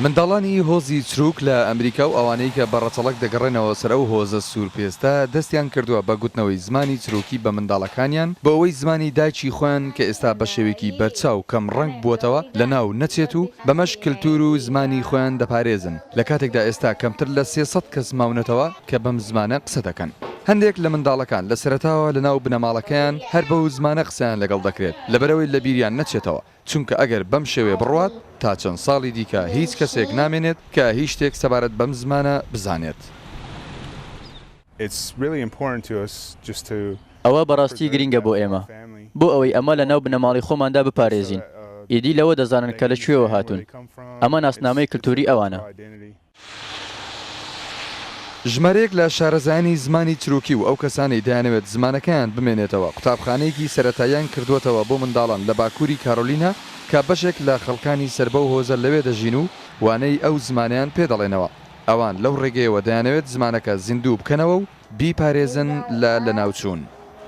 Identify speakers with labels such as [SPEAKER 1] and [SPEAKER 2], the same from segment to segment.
[SPEAKER 1] منداڵانی هۆزی چرووک لە ئەمریکا و ئەوانەی کە بە ڕەچەڵەک دەگەڕێنەوە سەر ئەو هۆزە سوورپێستە، دەستیان کردووە بە گوتنەوەی زمانی چرووکی بە منداڵەکانیان، بۆ ئەوەی زمانی دایکی خۆیان کە ئێستا بە شێوەیەکی بەرچاو کەم ڕەنگ بووەتەوە، لە ناو نەچێت و بەمەش کلتوور و زمانی خۆیان دەپارێزن، لە کاتێکدا ئێستا کەمتر لە سێ سەد کەس ماونەتەوە کە بەم زمانە قسە دەکەن. هەندێک لە منداڵەکان لە سەرەتاوە لە ناو بنەماڵەکەیان هەر بەو زمانە قسەیان لەگەڵ دەکرێت، لەبەرئەوەی لە بیریان نەچێتەوە. چونکە ئەگەر بەم شێوەیە بڕوات، تا چەند ساڵی دیکە هیچ کەسێک نامێنێت کە هیچ شتێک سەبارەت بەم زمانە بزانێت.
[SPEAKER 2] ئەوە بەڕاستی گرینگە بۆ ئێمە، بۆ ئەوەی ئەمە لەناو بنەماڵەی خۆماندا بپارێزین، ئیدی لەوە دەزانن کە لە کوێوە هاتوون، ئەمە ناسنامەی کلتووری ئەوانە.
[SPEAKER 1] ژمارەیەک لە شارەزایانی زمانی تروکی و ئەو کەسانەی دەیانەوێت زمانەکەیان بمێنێتەوە، قوتابخانەیەکی سەرەتاییان کردووەتەوە بۆ منداڵان لە باکووری کارۆلینا کە بەشێک لە خەڵکانی سەر بەو هۆزە لەوێ دەژین و وانەی ئەو زمانەیان پێ دەڵێنەوە. ئەوان لەو ڕێگەیەوە دەیانەوێت زمانەکە زیندوو بکەنەوە و بیپارێزن لە لەناوچوون.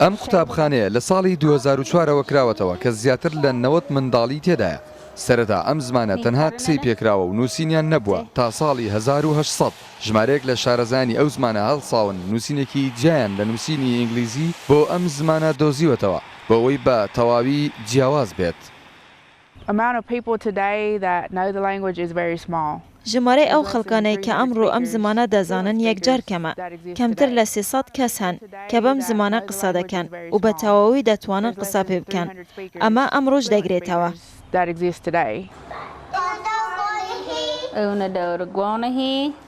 [SPEAKER 1] ئەم قوتابخانەیە لە ساڵی دوو هەزار و چوار ەوە کراوەتەوە کە زیاتر لە نەوەد منداڵی تێدایە. سەرەتا ئەم زمانە تەنها قسەی پێکراوە و نووسینیان نەبووە تا ساڵی هەزار و هەشت سەد ژمارەیەک لە شارەزایانی ئەو زمانە هەڵساون نووسینێکی جیایان لە نووسینی ئینگلیزی بۆ ئەم زمانە دۆزیوەتەوە بۆ ئەوەی بە تەواوی جیاواز بێت. amount of people today that know the language
[SPEAKER 3] is very small. ژمارەی ئەو خەڵکانەی کە ئەمڕۆ ئەم زمانە دەزانن یەکجار کەمە، کەمتر لە سێ سەد کەس هەن کە بەم زمانە قسە دەکەن و بە تەواوی دەتوانن قسە پێ بکەن. ئەمە ئەمڕۆش دەگرێتەوە.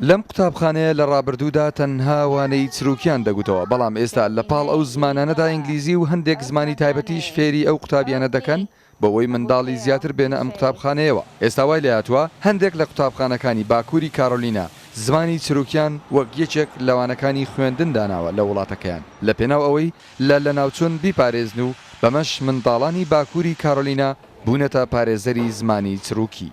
[SPEAKER 1] لەم قوتابخانەیە لە ڕابردوودا تەنها وانەی چرووکیان دەگوتەوە، بەڵام ئێستا لە پاڵ ئەو زمانانەدا ئینگلیزی و هەندێک زمانی تایبەتیش فێری ئەو قوتابیانە دەکەن بەوەی منداڵی زیاتر بێنە ئەم قوتابخانەیەوە. ئێستا وای لێهاتووە هەندێک لە قوتابخانەکانی باکووری کارۆلینا زمانی چرووکیان وەک یەکێک لە وانەکانی خوێندن داناوە لە وڵاتەکەیان لەپێناو ئەوەی لە لەناوچوون بیپارێزن و بەمەش منداڵانی باکووری کارۆلینا بوونەتە پارێزەری زمانی چرووکی.